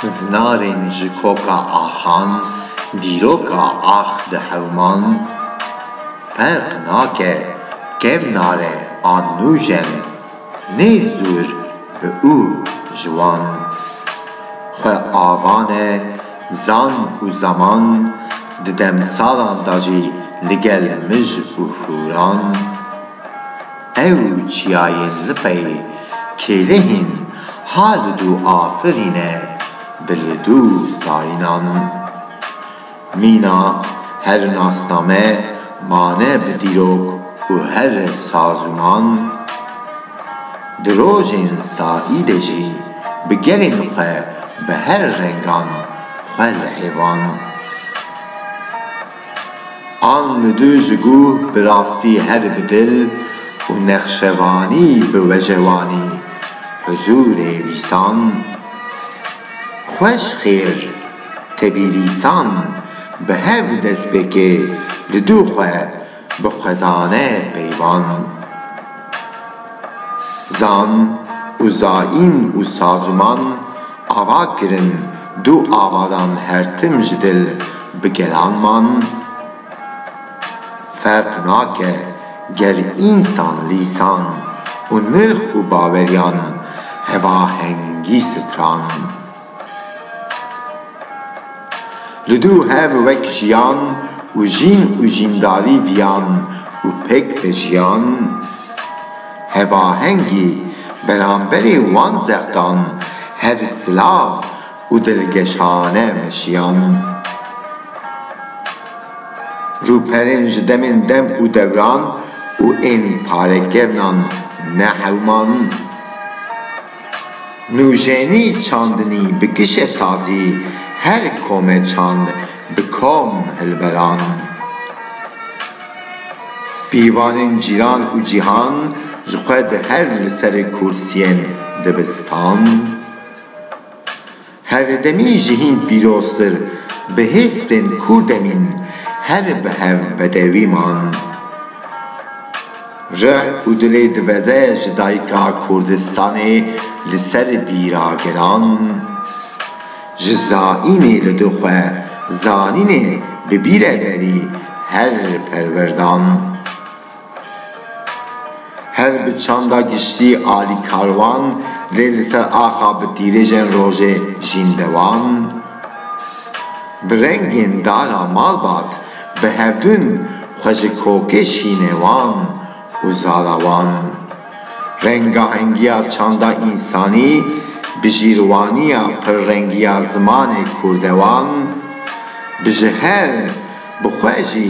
Zinarên ji koka axan dîroka ax di hewman Ferq nake kevnare an nûjen nêz dûr bi û ji wan Xwe avane Zan û zeman di demsalan de jî li gel mij û fûran, ew çiyayên lipey kêlehîn ha li dû afirîne bi li dû sayînan. Mîna her nasname mane bi dîrok û her sazûman. Di rojên saî de jî bi gelên xwe bi her rengan xwe li hêvan an li du ji guh bi rastî her bi dil û nexşevanî bi wejewanî huzûrê vîsan xweş xêr tevî rîsan bi hev destpêkê li du xwe Bi xwezane peyvan zan û zayîn û saziman ava kirin du avadan her tim ji dil bi gelan man. Ferq nake ger însan lîsan û nirx û baweriyan hevahengî stran. Li dû hev wek jiyan û jîn û jîndarî viyan û pêk vejiyan. Hevahengî beramberê wan zextan her silav û dilgeşane meşiyan. Rûperên ji demên dem û dewran û ên parekevnan ne hewman. Nûjenî çandinî bi kişesazî her kome çand bi kom hilberand. Pîvanên cîran û cîhan ji xwe di her li serê kursiyên dibistand. Herdemî ji hîn pîroztir bi hêstên kurdemîn her bi hev bedewî man. Rih û dilê diveze ji dayika Kurdistanê li ser bîra gelan. Ji zaînê li du xwe zanînê bi bîre berî her perwerdan. Her bi çanda giştî alî karwan, lê li ser axa bi tîrêjên rojê jîn dewan. Bi rengên dara malbat, bi hevdûn xwe ji kokê şînê wan û zara wan. Rengahengiya çanda însanî, bi jîrwaniya pirrengiya zimanê kûrdewan, bi ji her bi xwe jî,